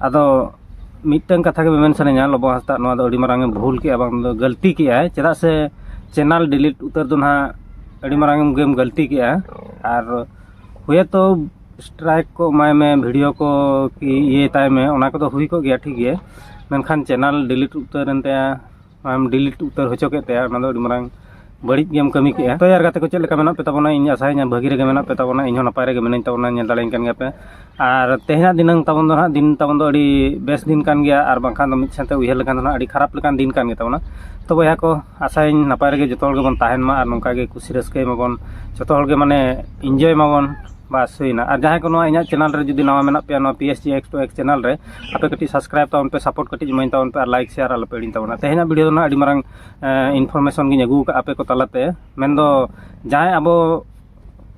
ᱟᱫᱚ ᱢᱤᱫᱴᱟᱹᱝ ᱠᱟᱛᱷᱟ ᱜᱮ ᱢᱮᱢᱮᱱ ᱥᱟᱱᱟᱧᱟ ᱞᱚᱵᱚ ᱦᱟᱸᱥᱫᱟ ᱱᱚᱣᱟ ᱫᱚ ᱟᱹᱰᱤ ᱢᱟᱨᱟᱝᱮᱢ ᱵᱷᱩᱞ ᱠᱮᱫᱼᱟ ᱵᱟᱝ ᱫᱚ ᱜᱟᱹᱞᱛᱤ ᱠᱮᱫᱼᱟᱭ ᱪᱮᱫᱟᱜ ᱥᱮ ᱪᱮᱱᱮᱞ ᱰᱤᱞᱤᱴ ᱩᱛᱟᱹᱨ ᱫᱚ ᱱᱟᱦᱟᱜ ᱟᱹᱰᱤ ᱢᱟᱨᱟᱝ ᱜᱮᱢ ᱜᱟᱹᱞᱛᱤ ᱠᱮᱫᱼᱟ ᱟᱨ ᱦᱳᱭᱛᱳ ᱥᱴᱨᱟᱭᱤᱠ ᱠᱚ ᱮᱢᱟᱭ ᱢᱮ ᱵᱷᱤᱰᱤᱭᱳ ᱠᱚ ᱤᱭᱟᱹᱭ ᱛᱟᱭ ᱢᱮ ᱚᱱᱟ ᱠᱚᱫᱚ ᱦᱩᱭ ᱠᱚᱜ ᱜᱮᱭᱟ ᱴᱷᱤᱠ ᱜᱮ ᱢᱮᱱᱠᱷᱟᱱ ᱪᱮᱱᱮᱞ ᱰᱤᱞᱤᱴ ᱩᱛᱟᱹᱨᱮᱱ ᱛᱟᱭᱟ ᱟᱢ ᱰᱤᱞᱤᱴ ᱩᱛᱟᱹᱨ ᱦᱚᱪᱚ ᱠᱮᱫ ᱛᱟᱭᱟ ᱚᱱᱟ ᱫᱚ ᱟᱹᱰᱤ ᱢᱟᱨᱟᱝ ᱵᱟᱹᱲᱤᱡ ᱜᱮᱢ ᱠᱟᱹᱢᱤ ᱠᱮᱫᱼᱟ ᱛᱚ ᱭᱟᱨ ᱜᱟᱛᱮ ᱠᱚ ᱪᱮᱫ ᱞᱮᱠᱟ ᱢᱮᱱᱟᱜ ᱯᱮ ᱛᱟᱵᱚᱱᱟ ᱤᱧ ᱟᱥᱟᱭᱟᱹᱧ ᱵᱷᱟᱹᱜᱤ ᱨᱮᱜᱮ ᱢᱮᱱᱟᱜ ᱯᱮ ᱛᱟᱵᱚᱱᱟ ᱤᱧ ᱦᱚᱸ ᱱᱟᱯᱟᱭ ᱨᱮᱜᱮ ᱢᱤᱱᱟᱹᱧ ᱛᱟᱵᱚᱱᱟ ᱧᱮᱞ ᱫᱟᱲᱮᱭᱟᱹᱧ ᱠᱟᱱ ᱜᱮᱭᱟᱯᱮ ᱟᱨ ᱛᱮᱦᱮᱧᱟᱜ ᱫᱤᱱᱟᱹᱝ ᱛᱟᱵᱚᱱ ᱫᱚ ᱦᱟᱸᱜ ᱫᱤᱱ ᱛᱟᱵᱚᱱ ᱫᱚ ᱟᱹᱰᱤ ᱵᱮᱥ ᱫᱤᱱ ᱠᱟᱱ ᱜᱮᱭᱟ ᱟᱨ ᱵᱟᱝᱠᱷᱟᱱ ᱫᱚ ᱢᱤᱫ ᱥᱮᱫ ᱛᱮ ᱩᱭᱦᱟᱹᱨ ᱞᱮᱠᱷᱟᱱ ᱫᱚ ᱦᱟᱸᱜ ᱟᱹᱰᱤ ᱠᱷᱟᱨᱟᱯ ᱞᱮᱠᱟᱱ ᱫᱤᱱ ᱠᱟᱱ ᱜᱮᱛᱟᱵᱚᱱᱟ ᱛᱚ ᱵᱚᱭᱦᱟ ᱠᱚ ᱟᱥᱟᱭᱟᱹᱧ ᱱᱟᱯᱟᱭ ᱨᱮᱜᱮ ᱡᱚᱛᱚ ᱦᱚᱲ ᱜᱮᱵᱚᱱ ᱛᱟᱦᱮᱱ ᱢᱟ ᱟᱨ ᱱᱚᱝᱠᱟ ᱜᱮ ᱠᱩᱥᱤ ᱨᱟᱹᱥᱠᱟᱹᱭ ᱢᱟᱵᱚᱱ ᱡᱚᱛᱚ ᱦᱚᱲ ᱜᱮ ᱢᱟᱱᱮ ᱤᱱᱡᱚᱭ ᱢᱟᱵᱚᱱ ᱵᱟᱥ ᱦᱩᱭᱱᱟ ᱟᱨ ᱡᱟᱦᱟᱸᱭ ᱠᱚ ᱱᱚᱣᱟ ᱤᱧᱟᱹᱜ ᱪᱮᱱᱮᱞ ᱨᱮ ᱡᱩᱫᱤ ᱱᱟᱣᱟ ᱢᱮᱱᱟᱜ ᱯᱮᱭᱟ ᱱᱚᱣᱟ P S G X two X channel ᱨᱮ ᱟᱯᱮ ᱠᱟᱹᱴᱤᱡ ᱥᱟᱵᱥᱠᱨᱟᱭᱤᱵ ᱛᱟᱵᱚᱱ ᱯᱮ ᱥᱟᱯᱳᱨᱴ ᱠᱟᱹᱴᱤᱡ ᱤᱢᱟᱹᱧ ᱛᱟᱵᱚᱱ ᱯᱮ ᱟᱨ ᱞᱟᱭᱤᱠ ᱥᱮᱭᱟᱨ ᱟᱞᱚ ᱯᱮ ᱦᱤᱲᱤᱧ ᱛᱟᱵᱚᱱᱟ ᱛᱮᱦᱮᱧᱟᱜ ᱵᱷᱤᱰᱤᱭᱳ ᱫᱚ ᱟᱹᱰᱤ ᱢᱟᱨᱟᱝ ᱤᱱᱯᱷᱚᱨᱢᱮᱥᱚᱱ ᱜᱤᱧ ᱟᱹᱜᱩ ᱠᱟᱜᱼᱟ ᱟᱯᱮ ᱠᱚ ᱛᱟᱞᱟᱛᱮ ᱢᱮᱱᱫᱚ ᱡᱟᱦᱟᱸᱭ ᱟᱵᱚ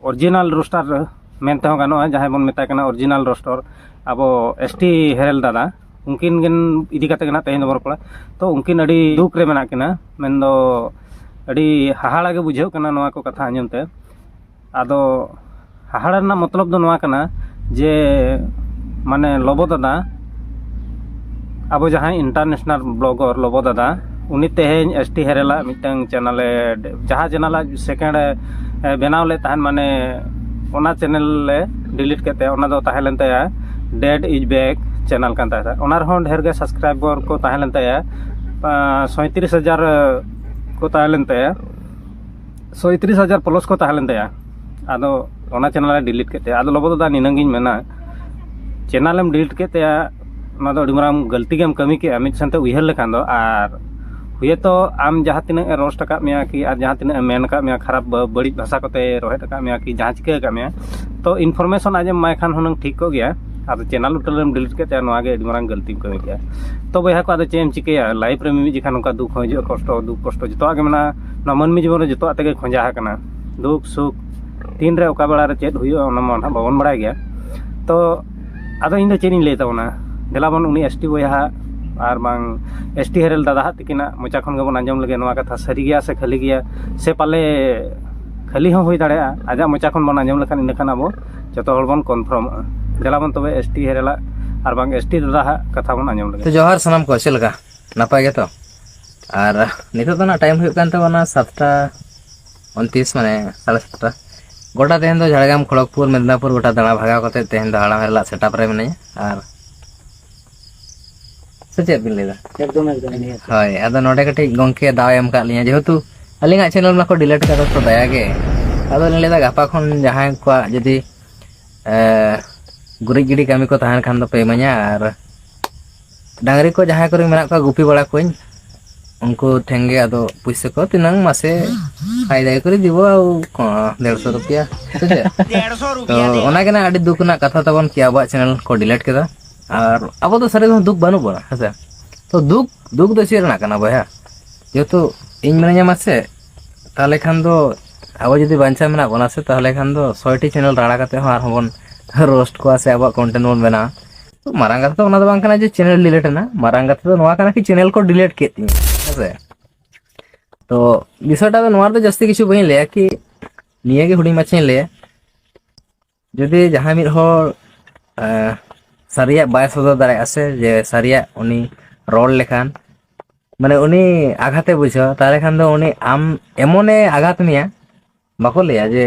ᱚᱨᱤᱡᱤᱱᱟᱞ ᱨᱳᱥᱴᱟᱨ ᱢᱮᱱ ᱛᱮᱦᱚᱸ ᱜᱟᱱᱚᱜᱼᱟ ᱡᱟᱦᱟᱸᱭ ᱵᱚᱱ ᱢᱮᱛᱟᱭ ᱠᱟᱱᱟ ᱚᱨᱤᱡᱤᱱᱟᱞ ᱨᱳᱥᱴᱚᱨ ᱟᱵᱚ ᱮᱥ ᱴᱤ ᱦᱮᱨᱮᱞ ᱫᱟᱫᱟ ᱩᱱᱠᱤᱱ ᱜᱮᱱ ᱤᱫᱤ ᱠᱟᱛᱮ ᱜᱮ ᱱᱟᱜ ᱛᱮᱦᱮᱧ ᱫᱚᱵᱚᱱ ᱨᱚᱯᱚᱲᱟ ᱛᱚ ᱩᱱᱠᱤᱱ ᱟᱹᱰᱤ ᱫᱩᱠ ᱨᱮ ᱢᱮᱱᱟᱜ ᱠᱤᱱᱟ ᱢᱮᱱᱫᱚ ᱟᱹᱰᱤ ᱦᱟᱦᱟᱲᱟ ᱜᱮ ᱵᱩᱡᱷᱟᱹᱜ ᱠᱟᱱᱟ ᱱᱚᱣᱟ ᱠᱚ ᱠᱟᱛᱷᱟ ᱟᱸᱡᱚᱢ ᱛᱮ ᱟᱫᱚ ᱦᱟᱦᱟᱲᱟ ᱨᱮᱱᱟᱜ ᱢᱚᱛᱞᱚᱵ ᱫᱚ ᱱᱚᱣᱟ ᱠᱟᱱᱟ ᱡᱮ ᱢᱟᱱᱮ ᱞᱚᱵᱚ ᱫᱟᱫᱟ ᱟᱵᱚ ᱡᱟᱦᱟᱸᱭ ᱤᱱᱴᱟᱨᱱᱮᱥᱱᱟᱞ ᱵᱞᱚᱜᱚᱨ ᱞᱚᱵᱚ ᱫᱟᱫᱟ ᱩᱱᱤ ᱛᱮᱦᱮᱧ ᱮᱥ ᱴᱤ ᱦᱮᱨᱮᱞ ᱟᱜ ᱢᱤᱫᱴᱟᱝ ᱪᱮᱱᱮᱞᱮ ᱡᱟᱦᱟᱸ ᱪᱮᱱᱮᱞ ᱟᱡ ᱥᱮᱠᱮᱱᱰ ᱮ ᱵᱮᱱᱟᱣ ᱞᱮᱫ ᱛᱟᱦᱮᱱ ᱢᱟᱱᱮ ᱚᱱᱟ ᱪᱮᱱᱮᱞ ᱮ ᱰᱤᱞᱤᱴ ᱠᱮᱫ ᱛᱟᱭᱟ ᱚᱱᱟ ᱫᱚ ᱛᱟᱦᱮᱸ ᱞᱮᱱ ᱛᱟᱭᱟ ᱰᱮᱰ ᱤᱡ ᱵᱮᱠ ᱪᱮᱱᱮᱞ ᱠᱟᱱ ᱛᱟᱭᱟ ᱚᱱᱟ ᱨᱮᱦᱚᱸ ᱰᱷᱮᱨ ᱜᱮ ᱥᱟᱵᱥᱠᱨᱟᱭᱵᱚᱨ ᱠᱚ ᱛᱟᱦᱮᱸ ᱞᱮᱱ ᱛᱟᱭᱟ ᱥᱟᱸᱭᱛᱨᱤᱥ ᱦᱟᱡᱟᱨ ᱠᱚ ᱛᱟᱦᱮᱸ ᱞᱮᱱ ᱛᱟᱭᱟ ᱥᱚᱸᱭᱛᱨᱤᱥ ᱦᱟᱡᱟᱨ ᱯᱞᱟᱥ ᱠᱚ ᱛᱟᱦᱮᱸ ᱞᱮᱱ ᱛᱟᱭᱟ ᱟᱫᱚ ᱚᱱᱟ ᱪᱮᱱᱮᱞᱮ ᱰᱤᱞᱤᱴ ᱠᱮᱫ ᱛᱟᱭᱟ ᱟᱫᱚ ᱞᱚᱵᱚ ᱫᱟᱫᱟ ᱱᱤᱱᱟᱹᱝ ᱜᱤᱧ ᱢᱮᱱᱟ ᱪᱮᱱᱮᱞ ᱮᱢ ᱰᱤᱞᱤᱴ ᱠᱮᱫ ᱛᱟᱭᱟ ᱚᱱᱟ ᱫᱚ ᱟᱹᱰᱤ ᱢᱟᱨᱟᱝ ᱜᱟᱹᱞᱛᱤ ᱜᱮᱢ ᱠᱟᱹᱢᱤ ᱠᱮᱫᱼᱟ ᱢᱤᱫ ᱥᱮᱱᱛᱮ ᱩᱭᱦᱟᱹᱨ ᱞᱮᱠᱷᱟᱱ ᱫᱚ ᱟᱨ ᱦᱳᱭᱛᱳ ᱟᱢ ᱡᱟᱦᱟᱸ ᱛᱤᱱᱟᱹᱜ ᱮ ᱨᱳᱥᱴ ᱟᱠᱟᱫ ᱢᱮᱭᱟ ᱠᱤ ᱟᱨ ᱡᱟᱦᱟᱸ ᱛᱤᱱᱟᱹᱜ ᱮ ᱢᱮᱱ ᱟᱠᱟᱫ ᱢᱮᱭᱟ ᱠᱷᱟᱨᱟᱯ ᱵᱟᱹᱲᱤᱡ ᱵᱷᱟᱥᱟ ᱠᱚᱛᱮ ᱨᱳᱦᱮᱫ ᱟᱠᱟᱫ ᱢᱮᱭᱟ ᱠᱤ ᱡᱟᱦᱟᱸ ᱪᱤᱠᱟᱹ ᱟᱠᱟᱫ ᱢᱮᱭᱟ ᱛᱳ ᱤᱱᱯᱷᱳᱨᱢᱮᱥᱚᱱ ᱟᱡ ᱮᱢ ᱮᱢᱟᱭ ᱠᱷᱟᱱ ᱦᱩᱱᱟᱹᱝ ᱴᱷᱤᱠ ᱠᱚᱜ ᱜᱮᱭᱟ ᱟᱫᱚ ᱪᱮᱱᱮᱞ ᱴᱳᱴᱟᱞ ᱮᱢ ᱰᱤᱞᱤᱴ ᱠᱮᱫ ᱛᱟᱭᱟ ᱱᱚᱣᱟᱜᱮ ᱟᱹᱰᱤ ᱢᱟᱨᱟᱝ ᱜᱟᱹᱞᱛᱤᱢ ᱠᱟᱹᱢᱤ ᱠᱮᱫᱼᱟ ᱛᱳ ᱵᱚᱭᱦᱟ ᱠᱚ ᱟᱫᱚ ᱪᱮᱫ ᱮᱢ ᱪᱤᱠᱟᱹᱭᱟ ᱞᱟᱭᱤᱯᱷ ᱨᱮ ᱢᱤᱢᱤᱫ ᱡᱚᱠᱷᱟᱱ ᱱᱚᱝᱠᱟ ᱫᱩᱠᱷ ᱦᱚᱸ ᱦᱤᱡᱩᱜᱼᱟ ᱠᱚᱥᱴᱚ ᱫᱩᱠᱷ ᱠᱚᱥᱴᱚ ᱡᱚᱛᱚᱣᱟᱜ ᱜᱮ ᱢᱮᱱᱟᱜᱼᱟ ᱱᱚᱣᱟ ᱢᱟᱹᱱᱢᱤ ᱡᱤᱵᱚᱱ ᱨᱮ ᱡᱚᱛᱚᱣᱟᱜ ᱛᱮᱜᱮ ᱠᱷᱚᱡᱟ ᱟᱠᱟᱱᱟ ᱫᱩᱠ ᱥᱩᱠ ᱛᱤᱱ ᱨᱮ ᱚᱠᱟ ᱵᱮᱲᱟ ᱨᱮ ᱪᱮᱫ ᱦᱩᱭᱩᱜᱼᱟ ᱚᱱᱟ ᱢᱟ ᱱᱟᱦᱟᱜ ᱵᱟᱵᱚᱱ ᱵᱟᱲᱟᱭ ᱜᱮᱭᱟ ᱛᱚ ᱟᱫᱚ ᱤᱧᱫᱚ ᱪᱮᱫ ᱤᱧ ᱞᱟᱹᱭ ᱛᱟᱵᱚᱱᱟ ᱫᱮᱞᱟ ᱵᱚᱱ ᱩᱱᱤ ᱮᱥ ᱴᱤ ᱵᱚᱭᱦᱟ ᱟᱨ ᱵᱟᱝ ᱮᱥ ᱴᱤ ᱦᱮᱨᱮᱞ ᱫᱟᱫᱟ ᱦᱟᱜ ᱛᱤᱠᱤᱱᱟᱜ ᱢᱚᱪᱟ ᱠᱷᱚᱱ ᱜᱮᱵᱚᱱ ᱟᱸᱡᱚᱢ ᱞᱮᱜᱮ ᱱᱚᱣᱟ ᱠᱟᱛᱷᱟ ᱥᱟᱹᱨᱤ ᱜᱮᱭᱟ ᱥᱮ ᱠᱷᱟᱹᱞᱤ ᱜᱮᱭᱟ ᱥᱮ ᱯᱟᱞᱮ ᱠᱷᱟᱹᱞᱤ ᱦᱚᱸ ᱦᱩᱭ ᱫᱟᱲᱮᱭᱟᱜᱼᱟ ᱟᱡᱟᱜ ᱢᱚᱪᱟ ᱠᱷᱚᱱ ᱵᱚᱱ ᱟᱸᱡᱚᱢ ᱞᱮᱠᱷᱟᱱ ᱤᱱᱟᱹ ᱠᱷᱟᱱ ᱟᱵᱚ ᱡᱚᱛᱚ ᱦᱚᱲ ᱵᱚᱱ ᱠᱚᱱᱯᱷᱨᱚᱢᱚᱜᱼᱟ ᱫᱮᱞᱟ ᱵᱚᱱ ᱛᱚᱵᱮ ᱮᱥ ᱴᱤ ᱦᱮᱨᱮᱞᱟᱜ ᱟᱨ ᱵᱟᱝ ᱮᱥ ᱴᱤ ᱫᱟᱫᱟ ᱦᱟᱜ ᱠᱟᱛᱷᱟ ᱵᱚᱱ ᱟᱸᱡᱚᱢ ᱞᱮᱜᱮ ᱡᱚᱦᱟᱨ ᱥᱟᱱᱟᱢ ᱠᱚ ᱪᱮᱫ ᱞᱮᱠᱟ ᱱᱟᱯᱟᱭ ᱜᱮᱛᱚ ᱟᱨ ᱱᱤᱛᱚᱜ ᱫᱚ ᱱᱟᱜ ᱴᱟᱭᱤᱢ ᱦᱩᱭᱩᱜ ᱠᱟᱱ ᱛᱟᱵᱚᱱᱟ ᱥᱟᱛᱴᱟ ᱩᱱᱛᱨᱤᱥ ᱢᱟᱱᱮ ᱥᱟᱲᱮ ᱥᱟᱛᱴᱟ ᱜᱚᱴᱟ ᱛᱮᱦᱮᱧ ᱫᱚ ᱡᱷᱟᱲᱜᱨᱟᱢ ᱠᱷᱚᱲᱚᱜᱽᱯᱩᱨ ᱢᱮᱫᱽᱱᱟᱯᱩᱨ ᱜᱚᱴᱟ ᱫᱟᱬᱟ ᱵᱷᱟᱜᱟᱣ ᱠᱟᱛᱮ ᱛᱮᱦᱮᱧ ᱫᱚ ᱦᱟᱲᱟᱢ ᱦᱮᱨᱞᱟᱜ ᱥᱮᱴᱟᱯ ᱨᱮ ᱢᱤᱱᱟᱹᱧᱟ ᱟᱨ ᱥᱮ ᱪᱮᱫ ᱵᱤᱱ ᱞᱟᱹᱭᱫᱟ ᱮᱠᱫᱚᱢ ᱮᱠᱫᱚᱢ ᱦᱳᱭ ᱟᱫᱚ ᱱᱚᱰᱮ ᱠᱟᱹᱴᱤᱡ ᱜᱚᱝᱠᱮ ᱫᱟᱣ ᱮᱢ ᱠᱟᱜ ᱞᱤᱧᱟ ᱡᱮᱦᱮᱛᱩ ᱟᱹᱞᱤᱧᱟᱜ ᱪᱮᱱᱮᱞ ᱢᱟᱠᱚ ᱰᱤᱞᱮᱴ ᱠᱟᱫᱟ ᱛᱚ ᱫᱟᱭᱟ ᱜᱮ ᱟᱫᱚ ᱞᱤᱧ ᱞᱟᱹᱭᱫᱟ ᱜᱟᱯᱟ ᱠᱷᱚᱱ ᱡᱟᱦᱟᱸᱭ ᱠᱚᱣᱟᱜ ᱡᱩᱫᱤ ᱜᱩᱨᱤᱡ ᱜᱤᱰᱤ ᱠᱟᱹᱢᱤ ᱠᱚ ᱛᱟᱦᱮᱱ ᱠᱷᱟᱱ ᱫᱚᱯᱮ ᱤᱢᱟᱹᱧᱟ ᱟᱨ ᱰᱟᱝᱨᱤ ᱠᱚ ᱡᱟᱦᱟᱸᱭ ᱠᱚᱨᱮ ᱢᱮᱱᱟᱜ ᱠᱚᱣᱟ ᱜᱩᱯᱤ ᱵᱟᱲᱟ ᱠᱚᱣᱟᱹᱧ ᱩᱱᱠᱩ ᱴᱷᱮᱱ ᱜᱮ ᱟᱫᱚ ᱯᱩᱭᱥᱟᱹ ᱠᱚ ᱛᱤᱱᱟᱹᱝ ᱢᱟᱥᱮ ᱟᱭ ᱫᱟᱭ ᱠᱚᱨᱮ ᱫᱤᱵᱚ ᱫᱮᱲᱥᱚ ᱨᱩᱯᱤᱭᱟ ᱥᱮ ᱪᱮᱫ ᱛᱚ ᱚᱱᱟ ᱜᱮ ᱱᱟ ᱟᱹᱰᱤ ᱫᱩᱠ ᱨᱮᱱᱟᱜ ᱠᱟᱛᱷᱟ ᱛᱟᱵᱚᱱ ᱠᱤ ᱟᱵᱚᱣᱟᱜ ᱪᱮᱱᱮᱞ ᱠᱚ ᱰᱤᱞᱮᱴ ᱠᱮᱫᱟ ᱟᱨ ᱟᱵᱚ ᱫᱚ ᱥᱟᱹᱨᱤ ᱫᱚ ᱫᱩᱠ ᱵᱟᱹᱱᱩᱜ ᱵᱚᱱᱟ ᱦᱮᱸᱥᱮ ᱛᱚ ᱫᱩᱠ ᱫᱩᱠ ᱫᱚ ᱪᱮᱫ ᱨᱮᱱᱟᱜ ᱠᱟᱱᱟ ᱵᱚᱭᱦᱟ ᱡᱮᱦᱮᱛᱩ ᱤᱧ ᱢᱤᱱᱟᱹᱧᱟ ᱢᱟᱥᱮ ᱛᱟᱦᱚᱞᱮ ᱠᱷᱟᱱ ᱫᱚ ᱟᱵᱚ ᱡᱩᱫᱤ ᱵᱟᱧᱪᱟᱣ ᱢᱮᱱᱟᱜ ᱵᱚᱱᱟ ᱥᱮ ᱛᱟᱦᱚᱞᱮ ᱠᱷᱟᱱ ᱫᱚ ᱥᱚᱭᱴᱤ ᱪᱮᱱᱮᱞ ᱨᱟᱲᱟ ᱠᱟᱛᱮ ᱦᱚᱸ ᱟᱨᱦᱚᱸ ᱵᱚᱱ ᱨᱳᱥᱴ ᱠᱚᱣᱟ ᱥᱮ ᱟᱵᱚᱣᱟᱜ ᱠᱚᱱᱴᱮᱱᱴ ᱵᱚᱱ ᱵᱮᱱᱟᱣᱟ ᱛᱚ ᱢᱟᱨᱟᱝ ᱠᱟᱛᱷᱟ ᱫᱚ ᱚᱱᱟ ᱫᱚ ᱵᱟᱝ ᱠᱟᱱᱟ ᱡᱮ ᱪᱮᱱᱮᱞ ᱰᱤᱞᱮᱴ ᱮᱱᱟ ᱢᱟᱨᱟᱝ ᱠᱟᱛᱷᱟ ᱫᱚ ᱱᱚᱣᱟ ᱠᱟᱱᱟ ᱠᱤ ᱪᱮᱱᱮᱞ ᱠᱚ ᱰᱤᱞᱮᱴ ᱠᱮᱫ ᱛᱤᱧᱟ ᱦᱮᱸᱥᱮ ᱛᱚ ᱵᱤᱥᱚᱭᱴᱟ ᱫᱚ ᱱᱚᱣᱟ ᱫᱚ ᱡᱟᱹᱥᱛᱤ ᱠᱤᱪᱷᱩ ᱵᱟᱹᱧ ᱞᱟᱹᱭᱟ ᱠᱤ ᱱᱤᱭᱟᱹ ᱜᱮ ᱦᱩᱰᱤᱧ ᱢᱟᱪᱷᱟᱧ ᱞᱟᱹᱭᱟ ᱡᱩᱫᱤ ᱡᱟᱦᱟᱸᱭ ᱢᱤᱫ ᱦᱚᱲ ᱥᱟᱹᱨᱤᱭᱟᱜ ᱵᱟᱭ ᱥᱚᱫᱚᱨ ᱫᱟᱲᱮᱭᱟᱜᱼᱟ ᱥᱮ ᱡᱮ ᱥᱟᱹᱨᱤᱭᱟᱜ ᱩᱱᱤ ᱨᱚᱲ ᱞᱮᱠᱷᱟᱱ ᱢᱟᱱᱮ ᱩᱱᱤ ᱟᱜᱷᱟᱛᱮ ᱵᱩᱡᱷᱟᱹᱣᱟ ᱛᱟᱦᱚᱞᱮ ᱠᱷᱟᱱ ᱫᱚ ᱩᱱᱤ ᱟᱢ ᱮᱢᱚᱱᱮ ᱟᱜᱷᱟᱛ ᱢᱮᱭᱟ ᱵᱟᱠᱚ ᱞᱟᱹᱭᱟ ᱡᱮ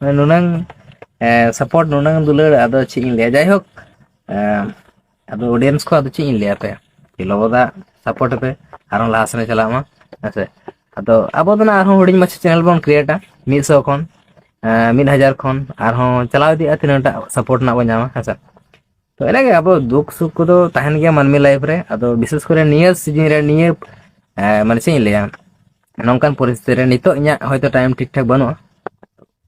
ᱢᱟᱱᱮ ᱱᱩᱱᱟᱹᱝ ᱥᱟᱯᱳᱨᱴ ᱱᱩᱱᱟᱹᱝ ᱫᱩᱞᱟᱹᱲ ᱟᱫᱚ ᱪᱮᱫ ᱤᱧ ᱞᱟᱹᱭᱟ ᱡᱟᱭᱦᱳᱠ ᱟᱫᱚ ᱚᱰᱤᱭᱮᱱᱥ ᱠᱚ ᱟᱫᱚ ᱪᱮᱫ ᱤᱧ ᱞᱟᱹᱭᱟ ᱯᱮ ᱞᱚᱵᱚᱫᱟ ᱥᱟᱯᱳᱨᱴ ᱯᱮ ᱟᱨᱦᱚᱸ ᱞᱟᱦᱟ ᱥᱮᱱ ᱪᱟᱞᱟᱜ ᱢᱟ ᱦᱮᱸᱥᱮ ᱟᱫᱚ ᱟᱵᱚ ᱫᱚ ᱱᱟᱜ ᱟᱨᱦᱚᱸ ᱦᱩᱰᱤᱧ ᱢᱟᱪᱷᱟ ᱪᱮᱱᱮᱞ ᱵᱚᱱ ᱠᱨᱤᱭᱮᱴᱟ ᱢᱤᱫ ᱥᱚ ᱠᱷᱚᱱ ᱢᱤᱫ ᱦᱟᱡᱟᱨ ᱠᱷᱚᱱ ᱟᱨᱦᱚᱸ ᱪᱟᱞᱟᱣ ᱤᱫᱤᱜᱼᱟ ᱛᱤᱱᱟᱹᱜ ᱴᱟᱜ ᱥᱟᱯᱳᱨᱴ ᱨᱮᱱᱟᱜ ᱵᱚᱱ ᱧᱟᱢᱟ ᱦᱮᱸᱥᱮ ᱛᱚ ᱮᱱᱟᱜᱮ ᱟᱵᱚ ᱫᱩᱠ ᱥᱩᱠ ᱠᱚᱫᱚ ᱛᱟᱦᱮᱱ ᱜᱮᱭᱟ ᱢᱟᱹᱱᱢᱤ ᱞᱟᱭᱤᱯᱷ ᱨᱮ ᱟᱫᱚ ᱵᱤᱥᱮᱥ ᱠᱚᱨᱮ ᱱᱤᱭᱟᱹ ᱥᱤᱡᱤᱱ ᱨᱮ ᱱᱤᱭᱟᱹ ᱢᱟᱱᱮ ᱪᱮᱫ ᱤᱧ ᱞᱟᱹᱭᱟ ᱱᱚᱝᱠᱟᱱ ᱯᱚᱨᱤᱥᱛᱷᱤᱛᱤ ᱨᱮ ᱱᱤᱛᱚᱜ ᱤᱧᱟᱹᱜ ᱦᱚᱭᱛᱳ ᱴᱟᱭᱤᱢ ᱴᱷᱤᱠ ᱴᱷᱟᱠ ᱵᱟᱹᱱᱩᱜᱼᱟ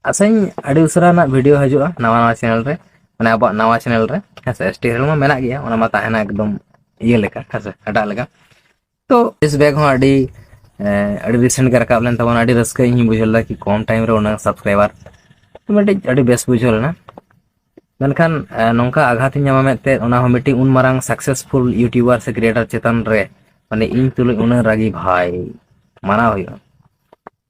ᱟᱥᱟᱧ ᱟᱹᱰᱤ ᱩᱥᱟᱹᱨᱟ ᱨᱮᱱᱟᱜ ᱵᱷᱤᱰᱤᱭᱳ ᱦᱤᱡᱩᱜᱼᱟ ᱱᱟᱣᱟ ᱱᱟᱣᱟ ᱪᱮᱱᱮᱞ ᱨᱮ ᱢᱟᱱᱮ ᱟᱵᱚᱣᱟᱜ ᱱᱟᱣᱟ ᱪᱮᱱᱮᱞ ᱨᱮ ᱦᱮᱸᱥᱮ ᱮᱥ ᱴᱤ ᱢᱟ ᱢᱮᱱᱟᱜ ᱜᱮᱭᱟ ᱚᱱᱟ ᱢᱟ ᱛᱟᱦᱮᱱᱟ ᱮᱠᱫᱚᱢ ᱤᱭᱟᱹ ᱞᱮᱠᱟ ᱦᱮᱸᱥᱮ ᱮᱴᱟᱜ ᱞᱮᱠᱟ ᱛᱚ ᱵᱮᱥ ᱵᱮᱜᱽ ᱦᱚᱸ ᱟᱹᱰᱤ ᱟᱹᱰᱤ ᱨᱤᱥᱮᱱᱴ ᱜᱮ ᱨᱟᱠᱟᱵ ᱞᱮᱱ ᱛᱟᱵᱚᱱᱟ ᱟᱹᱰᱤ ᱨᱟᱹᱥᱠᱟᱹ ᱤᱧ ᱵᱩᱡᱷᱟᱹᱣ ᱞᱮᱫᱟ ᱠᱤ ᱠᱚᱢ ᱴᱟᱭᱤᱢ ᱨᱮ ᱩᱱᱟᱹᱜ ᱥᱟᱵᱥᱠᱨᱟᱭᱵᱟᱨ ᱢᱤᱫᱴᱤᱡ ᱟᱹᱰᱤ ᱵᱮᱥ ᱵᱩᱡᱷᱟᱹᱣ ᱞᱮᱱᱟ ᱢᱮᱱᱠᱷᱟᱱ ᱱᱚᱝᱠᱟ ᱟᱜᱷᱟᱛ ᱤᱧ ᱧᱟᱢᱟ ᱢᱮᱱᱛᱮ ᱚᱱᱟ ᱦᱚᱸ ᱢᱤᱫᱴᱤᱡ ᱩᱱ ᱢᱟᱨᱟᱝ ᱥᱟᱠᱥᱮᱥᱯᱷᱩᱞ ᱤᱭᱩᱴᱤᱭᱩᱵᱟᱨ ᱥᱮ ᱠᱨᱤᱭᱮᱴᱟᱨ ᱪᱮᱛᱟᱱ ᱨᱮ ᱢᱟᱱᱮ ᱤᱧ ᱛᱩᱞᱩᱡ ᱩᱱᱟᱹᱜ ᱨᱟᱹᱜᱤ ᱵᱷᱟᱭ ᱢᱟᱱᱟᱣ ᱦᱩᱭᱩᱜᱼᱟ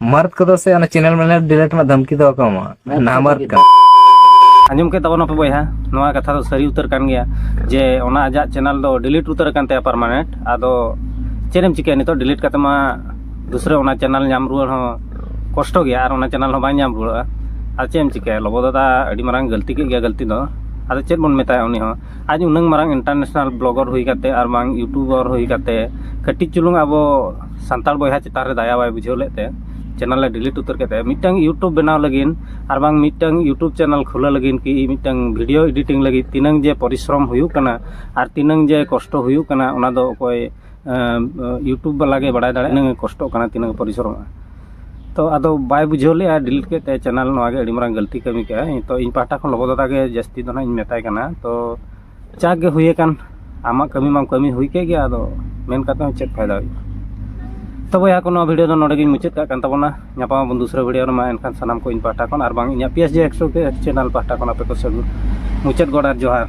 ᱢᱟᱨᱛ ᱠᱚᱫᱚ ᱥᱮ ᱚᱱᱟ ᱪᱮᱱᱮᱞ ᱢᱮᱱᱮ ᱰᱤᱞᱮᱴ ᱨᱮᱱᱟᱜ ᱫᱷᱟᱢᱠᱤ ᱫᱚ ᱵᱟᱠᱚ ᱮᱢᱟ ᱱᱟ ᱢᱟᱨᱛ ᱠᱟᱱᱟ ᱟᱸᱡᱚᱢ ᱠᱮᱫ ᱛᱟᱵᱚᱱᱟ ᱯᱮ ᱵᱚᱭᱦᱟ ᱱᱚᱣᱟ ᱠᱟᱛᱷᱟ ᱫᱚ ᱥᱟᱹᱨᱤ ᱩᱛᱟᱹᱨ ᱠᱟᱱ ᱜᱮᱭᱟ ᱡᱮ ᱚᱱᱟ ᱟᱡᱟᱜ ᱪᱮᱱᱮᱞ ᱫᱚ ᱰᱤᱞᱤᱴ ᱩᱛᱟᱹᱨ ᱟᱠᱟᱱ ᱛᱟᱭᱟ ᱯᱟᱨᱢᱟᱱᱮᱱᱴ ᱟᱫᱚ ᱪᱮᱫ ᱮᱢ ᱪᱤᱠᱟᱹᱭᱟ ᱱᱤᱛᱚᱜ ᱰᱤᱞᱤᱴ ᱠᱟᱛᱮ ᱢᱟ ᱫᱩᱥᱨᱟᱹ ᱚᱱᱟ ᱪᱮᱱᱮᱞ ᱧᱟᱢ ᱨᱩᱣᱟᱹᱲ ᱦᱚᱸ ᱠᱚᱥᱴᱚ ᱜᱮᱭᱟ ᱟᱨ ᱚᱱᱟ ᱪᱮᱱᱮᱞ ᱦᱚᱸ ᱵᱟᱝ ᱧᱟᱢ ᱨᱩᱣᱟᱹᱲᱚᱜᱼᱟ ᱟᱨ ᱪᱮᱫ ᱮᱢ ᱪᱤᱠᱟᱹᱭᱟ ᱞᱚᱵᱚ ᱫᱟᱫᱟ ᱟᱹᱰᱤ ᱢᱟᱨᱟᱝ ᱜᱟᱹᱞᱛᱤ ᱠᱮᱫ ᱜᱮᱭᱟ ᱜᱟᱹᱞᱛᱤ ᱫᱚ ᱟᱫᱚ ᱪᱮᱫ ᱵᱚᱱ ᱢᱮᱛᱟᱭᱟ ᱩᱱᱤ ᱦᱚᱸ ᱟᱡ ᱩᱱᱟᱹᱝ ᱢᱟᱨᱟᱝ ᱤᱱᱴᱟᱨᱱᱮᱥᱱᱟᱞ ᱵᱞᱚᱜᱟᱨ ᱦᱩᱭ ᱠᱟᱛᱮᱫ ᱟᱨ ᱵᱟᱝ ᱤᱭᱩᱴᱩᱵᱟᱨ ᱦᱩᱭ ᱠᱟᱛᱮᱫ ᱠᱟᱹᱴᱤᱡ ᱪᱩᱞᱩᱝ ᱟᱵᱚ ᱥᱟᱱᱛᱟᱲ ᱵᱚᱭᱦᱟ ᱪᱮᱛᱟᱱ ᱨᱮ ᱫᱟᱭᱟ ᱵᱟᱭ ᱵᱩᱡᱷᱟᱹᱣ ᱞᱮᱫ ᱛᱮ ᱪᱮᱱᱮᱞ ᱮ ᱰᱤᱞᱤᱴ ᱩᱛᱟᱹᱨ ᱠᱮᱫ ᱛᱟᱭᱟ ᱢᱤᱫᱴᱟᱝ ᱤᱭᱩᱴᱩᱵᱽ ᱵᱮᱱᱟᱣ ᱞᱟᱹᱜᱤᱫ ᱟᱨ ᱵᱟᱝ ᱢᱤᱫᱴᱟᱝ ᱤᱭᱩᱴᱩᱵᱽ ᱪᱮᱱᱮᱞ ᱠᱷᱩᱞᱟᱹᱣ ᱞᱟᱹᱜᱤᱫ ᱠᱤ ᱢᱤᱫᱴᱟᱝ ᱵᱷᱤᱰᱭᱳ ᱮᱰᱤᱴᱤᱝ ᱞᱟᱹᱜᱤᱫ ᱛᱤᱱᱟᱹᱝ ᱡᱮ ᱯᱚᱨᱤᱥᱨᱚᱢ ᱦᱩᱭᱩᱜ ᱠᱟᱱᱟ ᱟᱨ ᱛᱤᱱᱟᱹᱝ ᱡᱮ ᱠᱚᱥᱴᱚ ᱦᱩᱭᱩᱜ ᱠᱟᱱᱟ ᱚᱱᱟ ᱫᱚ ᱚᱠᱚᱭ ᱤᱭᱩᱴᱩᱵᱽ ᱵᱟᱞᱟ ᱜᱮ ᱵᱟᱲᱟᱭ ᱫᱟᱲᱮᱭᱟᱜᱼᱟ ᱛᱤᱱᱟᱹᱜ ᱮ ᱠᱚᱥᱴᱚᱜ ᱠᱟᱱᱟ ᱛᱤᱱᱟᱹᱜ ᱮ ᱯᱚᱨᱤᱥᱨᱚᱢᱚᱜ ᱠᱟᱱᱟ ᱛᱳ ᱟᱫᱚ ᱵᱟᱭ ᱵᱩᱡᱷᱟᱹᱣ ᱞᱮᱫᱼᱟ ᱰᱤᱞᱤᱴ ᱠᱮᱫ ᱛᱟᱭᱟ ᱪᱮᱱᱮᱞ ᱱᱚᱣᱟ ᱜᱮ ᱟᱹᱰᱤ ᱢᱟᱨᱟᱝ ᱜᱟᱹᱞᱛᱤ ᱠᱟᱹᱢᱤ ᱠᱮᱫ ᱟᱭ ᱛᱳ ᱤᱧ ᱯᱟᱦᱴᱟ ᱠᱷᱚᱱ ᱞᱚᱵᱚ ᱫᱟᱫᱟ ᱜᱮ ᱡᱟᱹᱥᱛᱤ ᱫᱚ ᱦᱟᱸᱜ ᱤᱧ ᱢᱮᱛᱟᱭ ᱠᱟᱱᱟ ᱛᱳ ᱡᱟᱠ ᱜᱮ ᱦᱩᱭ ᱟᱠᱟᱱ ᱟᱢᱟᱜ ᱠᱟᱹᱢᱤ ᱢᱟᱢ ᱠᱟᱹᱢᱤ ᱦᱩᱭ ᱠᱮᱫ ᱜᱮ ᱟᱫᱚ ᱢᱮᱱ ᱠᱟᱛᱮᱫ ᱦᱚᱸ ᱪᱮᱫ ᱯᱷᱟᱭᱫᱟ ᱦᱩᱭᱩᱜᱼᱟ ᱛᱳ ᱵᱚᱭᱦᱟ ᱠᱚ ᱱᱚᱣᱟ ᱵᱷᱤᱰᱤᱭᱳ ᱫᱚ ᱱᱚᱰᱮ ᱜᱤᱧ ᱢᱩᱪᱟᱹᱫ ᱠᱟᱜ ᱠᱟᱱ ᱛᱟᱵᱚᱱᱟ ᱧᱟᱯᱟᱢ ᱟᱵᱚᱱ ᱫᱩᱥᱨᱟᱹ ᱵᱷᱤᱰᱤᱭᱳ ᱨᱮᱢᱟ ᱮᱱᱠᱷᱟᱱ ᱥᱟᱱᱟᱢ ᱠᱚ ᱤᱧ ᱯᱟᱦᱴᱟ ᱠᱷᱚᱱ ᱟᱨ ᱵᱟᱝ ᱤᱧᱟᱹᱜ P S J X channel ᱯᱟᱦᱴᱟ ᱠᱷᱚᱱ ᱟᱯᱮ ᱠᱚ ᱥᱟᱹᱜᱩᱱ ᱢᱩᱪᱟᱹᱫ ᱜᱚᱰ ᱟᱨ ᱡᱚᱦᱟᱨ